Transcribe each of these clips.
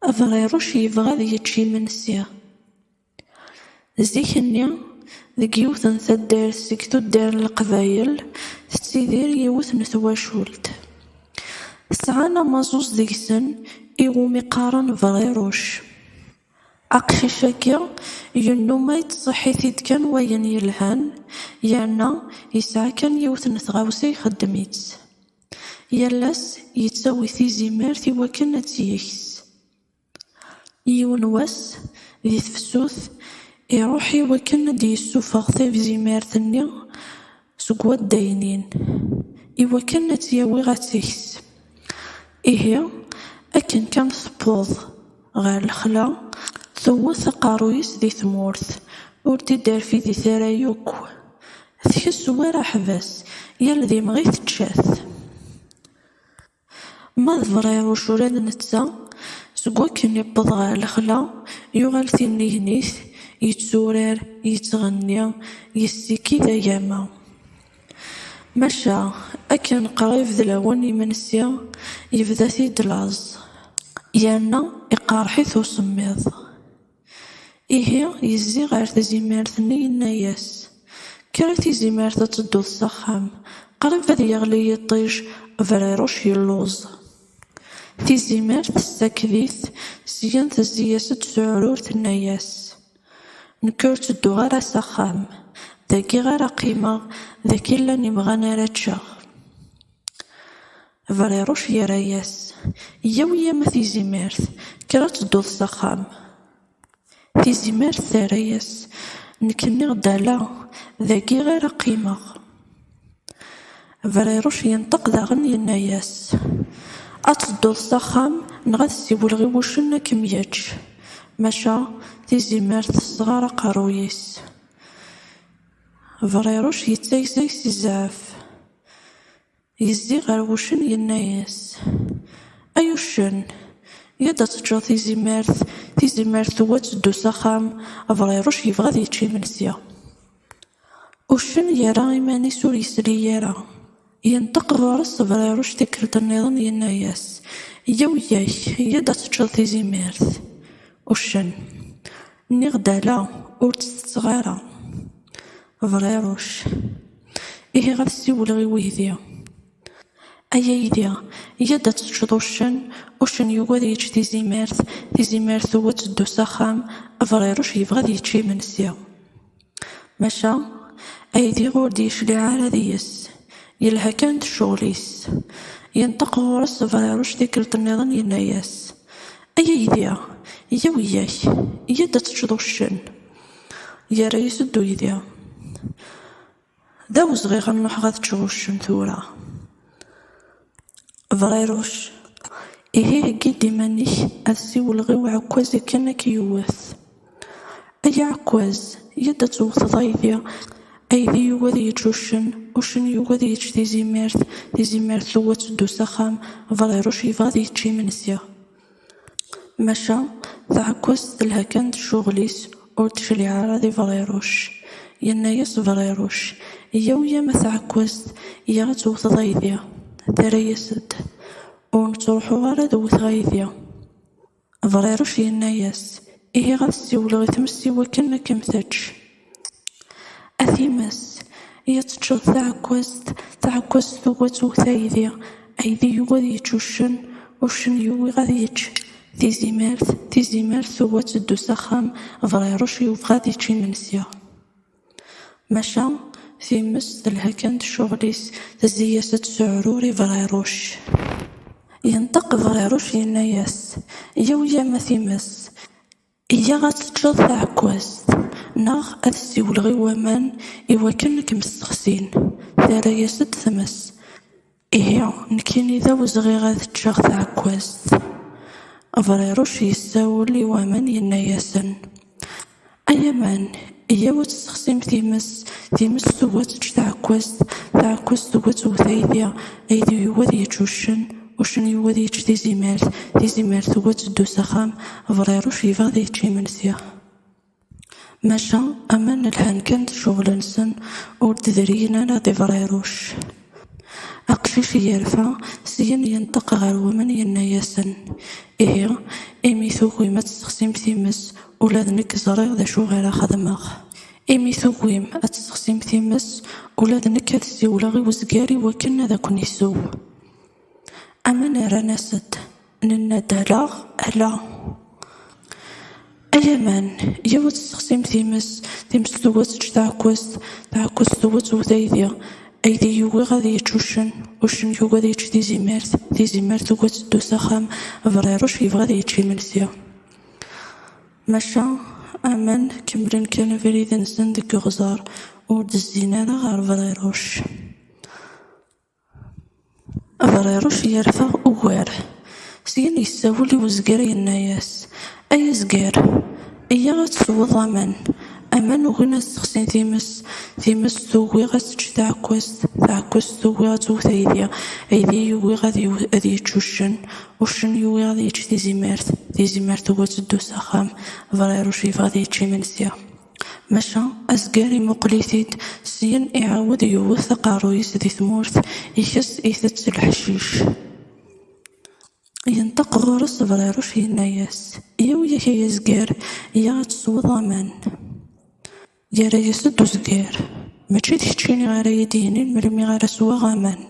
Abeɣiruc yebɣa ad yečč imensi. Zik-nni, deg yiwet n taddart seg tuddar n Leqbayel, tettidir yiwet n twacult. Sɛan amaẓuẓ deg-sen i wumi qqaren Beɣiruc. Aqcic-agi yennuma yettṣeḥḥi-t-id kan wayen yelhan, yerna yesɛa kan yiwet n tɣawsa ixeddem-itt. Yal ass yettawi tizimert i wakken ad tt-yeks. Yiwen wass, di tefsut, iruḥ i wakken ad d-yessufeɣ tizimert-nni seg waddaynin, i wakken ad tt-yawi ad tt-yeks. Ihi, akken kan tewweḍ. ɣer lexla, tewwet aqerruy-is di tmurt, ur d-iderfidit ara yakk, tkess war aḥbas, yal d imɣi tečča-t. Ma d Briruc ula d netta, seg wakken yewweḍ ɣer lexla, yuɣal tinnignit, yetturar, yettɣenni, yessikid agama. Maca akken qrib d lawan n yimensi, yebda-t-id laẓ yerna iqerreḥ-it usemmiḍ. Ihi yezzi ɣer tezimert-nni yenna-as, Kker a tizimert ad tedduḍ s axxam, qrib ad yeɣli yiṭij, Briruc yelluẓ. Tizimert tessaked-it, syen tezzi-as-d s uɛrur tenna-as, Nekk ur ttedduɣ ara s axxam, dagi ara qqimeɣ, dagi llan imɣan ara ččeɣ. Briruc yerra-yas, Yyaw-iyi-a ma Tizimert, kker ad tedduḍ s axxam. Tizimert terra-yas, Nekk nniɣ-d ala, dagi ara qqimeɣ. Briruc yenṭeq daɣen yenna-yas, Ad tedduḍ s axxam neɣ ad siwleɣ i wuccen ad kem-yečč. Maca tizimert tesɣer aqerruy-is. Briruc yettagsag si zzɛef, yezzi ɣer wuccen yenna-yas, Ay uccen, yya-d ad teččeḍ tizimert. Tizimert tugi ad teddu s axxam, Briruc yebɣa ad yečč imensi. Uccen yerra iman-is ur yesli ara. Yenṭeq ɣur-s Tebriruct tikkelt nniḍen yenna-yas, Yya wiyak, yya-d ad teččeḍ tizimirt. Uccen, Nniɣ-d ala, ur tt-tetteɣ ara. Briruct, Ihi ad siwleɣ i weydi. Ay aydi, yya-d ad teččeḍ uccen. Uccen yugi ad yečč tizimirt, tizimirt tugi ad teddu s axxam, Briruct yebɣa ad yečč imensi. Maca aydi ur d-yecliɛ ara deg-s, yelha kan d ccɣel-is. Yenṭeq ɣur-s Bɛiruc tikkelt nniḍen yenna-yas, Ay aydi, yya wiyya-k, yya-d ad teččeḍ uccen. Yerra-yas-d uydi. D awezɣi ad nruḥ ad teččeḍ uccen tura. Berriruc, Ihi heggi-d iman-ik ad siwleɣ i uɛekkaz akken ad k-yewwet. Ay aɛekkaz, yya-d ad tewwteḍ aydi. Aydi yugi ad yečč uccen, uccen yugi ad yečč tizimert, tizimert tugi ad teddu s axxam, berriruc yebɣa ad yečč imensi. Maca taɛekkazt telha kan d ccuɣel-is, ur d-tecliɛ ara di Briruc. Yenna-yas Briruc, Yyaw yam a taɛekkazt, yya ad tewteḍ aydi. Terra-yas-d, Ur nettruḥu ara ad wteɣ aydi. Briruc yenna-yas, Ihi ad siwleɣ i tmes iwakken ad kem-tečč. A times, i ad teččeḍ taɛekkazt, taɛekkazt tugi ad twet aydi, aydi yugi ad yečč uccen, uccen yugi ad yečč tizimert, tizimert tugi ad teddu s axxam, berɛiruc yebɣa ad yečč imensi. Maca times telha kan d ccuɣel-is, tezzi-yas ad tesɛurur i berɛiruc. Yenṭeq berɛiruc yenna-yas, Yaw-yamm a times! Iyya ad teččeḍ taɛekkazt neɣ ad ssiwleɣ i waman i wakken ad kem-ssexsin, terra-yas-d tmes. Ihi, nekkini d awezɣi ad ččeɣ taɛekkazt. Abriruc yessawel i waman yenna-yasen, Ay aman! Yyaw ad tessexsim times, times tugi ad teǧǧ taɛekkazt, taɛekkazt tugi ad tewwet aydi, aydi yugi ad yeǧǧ uccen, uccen yugi ad yeǧǧ tizimert, tizimert tugi ad teddu s axxam, Berɛiruc yebɣa ad yečč imensi. Maca aman lhan kan d ccɣel-nsen, ur d-driyen ara di Berɛiruc. Aqcic yerfa, syen yenṭeq ɣer wemma-s yenna-yasen, Ihi, imi tugim ad tessexsim times, ula d nekk ẓriɣ d acu ara xedmeɣ. Imi tugim ad tessexsim times, ula d nekk ad ssiwleɣ i wezgar i wakken ad ken-isew. Aman rran-as-d, Nenna-d ala, ala. A Yaman, yiwet tessexsim times, times twet ečč taɛekkazt, taɛekkazt twet wet aydi, aydi yugi ad yečč uccen, uccen yugi ad yečč tizimert, tizimert tugi ad teddu s axxam, aberriruc yebɣa ad yečč imensi. Maca aman kemmlen kan abrid-nsen deg uɣẓar, ur d-zzin ara ɣer berriruc. Abeṛṛiṛec yerfa ugar. Syin yessawel i wezger yenna-yas, Ay azger, iyya ad tesweḍ aman. Aman ugin ad ssexsin times, times tugi ad tečč taɛekkazt, taɛekkazt tugi ad twet aydi, aydi yugi ad yečč uccen, uccen yugi ad yečč tizimert, tizimert tugi ad teddu s axxam. Abeṛṛiṛec yebɣa ad yečč imensi. Maca azger imuqel-it-id, syen iɛawed yewwet aqerruy-is di tmurt, ikes itett leḥcic. Yenṭeq ɣur-s Beḍriruc yenna-yas, Yaw yak ay azger, ya ad tesweḍ aman. Yerra-yas-d uzger, Mačči d keččini ara yi-d-yinin melmi ara sweɣ aman.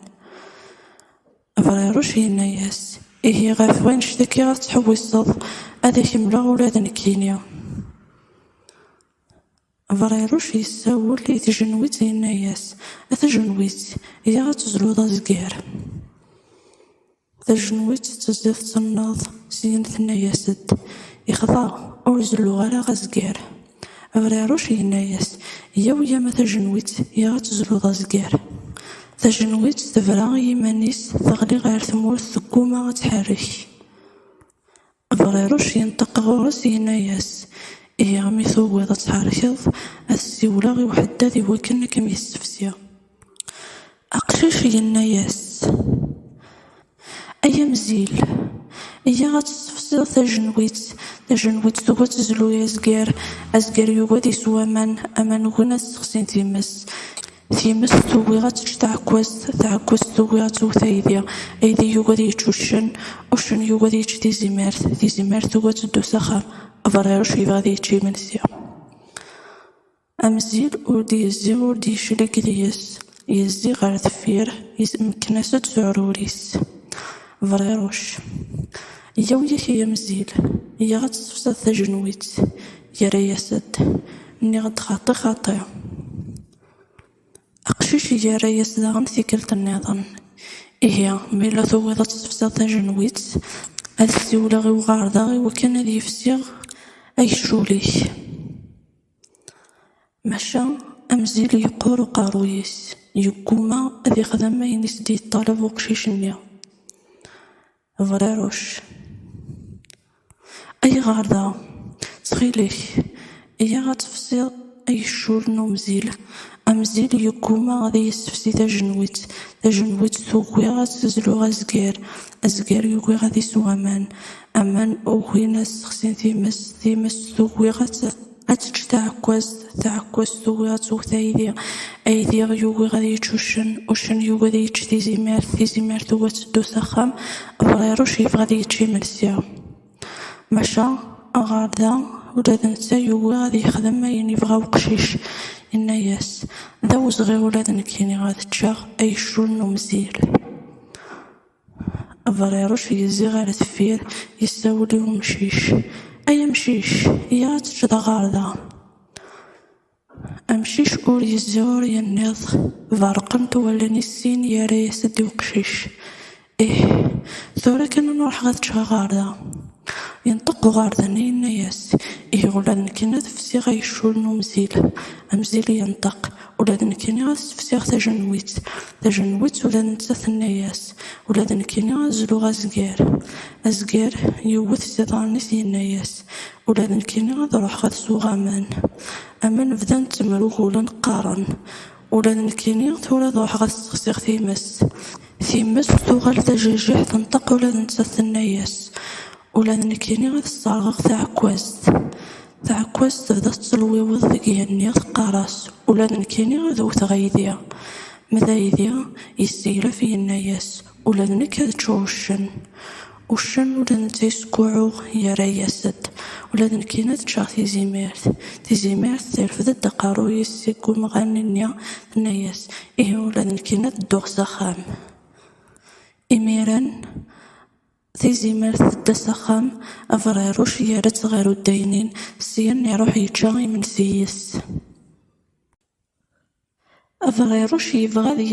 Abeṛṛiruc yenna-yas, Ihi ɣef wanect akka ara tettḥewwiseḍ, ad ak-mleɣ ula d nekkini. Abeṛṛiruc yessawel i tjenwitt yenna-yas, A tajenwitt, iyya ad tezluḍ azger. Tajenwitt tettezzi tettenneḍ, syin tenna-yas-d, Yexḍa, ur zelluɣ ara azger. Abriɛruc yenna-yas, Yyaw yam a tajenwitt, ya ad tezluḍ azger. Tajenwitt tebra i yiman-is, teɣli ɣer tmurt, tegguma ad tḥerrek. Abriɛruc yenṭeq ɣur-s, yenna-yas, Ihi, mi tugiḍ ad tḥerrkeḍ, ad ssiwleɣ i uḥeddad iwakken ad kem-yessefsi. Aqcic yenna-yas: Ay amzil, iyya ad tessefsiḍ tajenwitt. Tajenwitt tugi ad tezlu i azger, azger yugi ad isew aman, aman ugin ad ssexsin times, times tugi ad tečč taɛekkazt, taɛekkazt tugi ad twet aydi, aydi yugi ad yečč uccen, uccen yugi ad yečč tizimert, tizimert tugi ad teddu s axxam. Abeṛṛiṛuc yebɣa ad yečč imensi. Am zzin ur d-yezzi ur d-yeclig deg-s, yezzi ɣer deffir, yesmekkin-as-d s uɛrur-is. Berɛiruc, Yaw yak ay amzil, yyaɣ ad tessefseḍ tajenwitt. Yerra-yas-d, Nniɣ-d xaṭi xaṭi. Aqcic yerra-yas daɣen tikkelt nniḍen, Ihi, ma yella tugiḍ ad tessefseḍ tajenwitt, ad ssiwleɣ i uɣerda iwakken ad yefsi agcul-ik. Maca amzil yeqqur uqerruy-is, yegguma ad ixdem ayen i s-d-yeṭṭaleb uqcic-nni. Brarec, Ayɣer da? Ttxil-k, iyyaɣ ad tefsiḍ agejjur n umzil. Amzil yegguma ad iyi-yessefsi tajenwitt, tajenwitt tugi ad as-zluɣ azger, azger yugi ad isew aman. aman ugin ad sexsin times, times tugi ad tečč taɛekkazt, taɛekkazt tugi ad twet aydi, aydi yugi ad yečč uccen, uccen yugi ad yečč tizimert, tizimert tugi ad teddu s axxam, abṛiṛuc yebɣa ad yečč imensi. Maca ɣer da ula d netta yugi ad yexdem ayen yebɣa uqcic, yenna-yas, D awezɣi ula d nekkini ad ččeɣ ayecculen umzil. Abeṛṛiṛec yezzi ɣer deffir, yessawel i umcic, Ay amcic, yya ad teččeḍ aɣerda. Amcic ur yezzi ur yenniḍ, beṛṛqent wallen-is sin, yerra-yas-d i uqcic, Ih, tura kan ad n-ruḥeɣ ad ččeɣ aɣerda. Yenṭeq uɣerda-nni yenna-yas, Ihi ula d nekk ad fsiɣ agcul n umzil. Amzil yenṭeq, Ula d nekkini ad as-d-fsiɣ tajenwitt. Tajenwitt ula d netta tenna-as, ula d nekkini ad zluɣ azger. Azger yewwet s iḍarren-is yenna-as, ula d nekkini ad ruḥeɣ ad sweɣ aman. Aman bdan ttemrugulen qqaren, ula d nekkini tura ad ruḥeɣ ad sexsiɣ times. Times tuɣal d ajejiḥ tenṭeq ula d nettat tenna-as, Ula d nekkini ad sserɣeɣ taɛekkazt. Taɛekkazt tebda tettelwiwiḍ deg yigenni, teqqar-as, Ula d nekkini ad wwteɣ aydi. Ma d aydi, yesseglef, yenna-as, Ula d nekk ad ččuɣ uccen. Uccen ula d netta yeskuɛɛuɣ, yerra-as-d, Ula d nekkini ad ččeɣ tizimirt. Tizimirt terfed-d aqerruy-is seg umɣan-nni, tenna-as, Ihi ula d nekkini ad dduɣ s axxam. Imiren, Tizimert tedda s axxam, abeṛɛiṛuc yerra-tt ɣer uddaynin, syen iṛuḥ yečča imensi yis-s.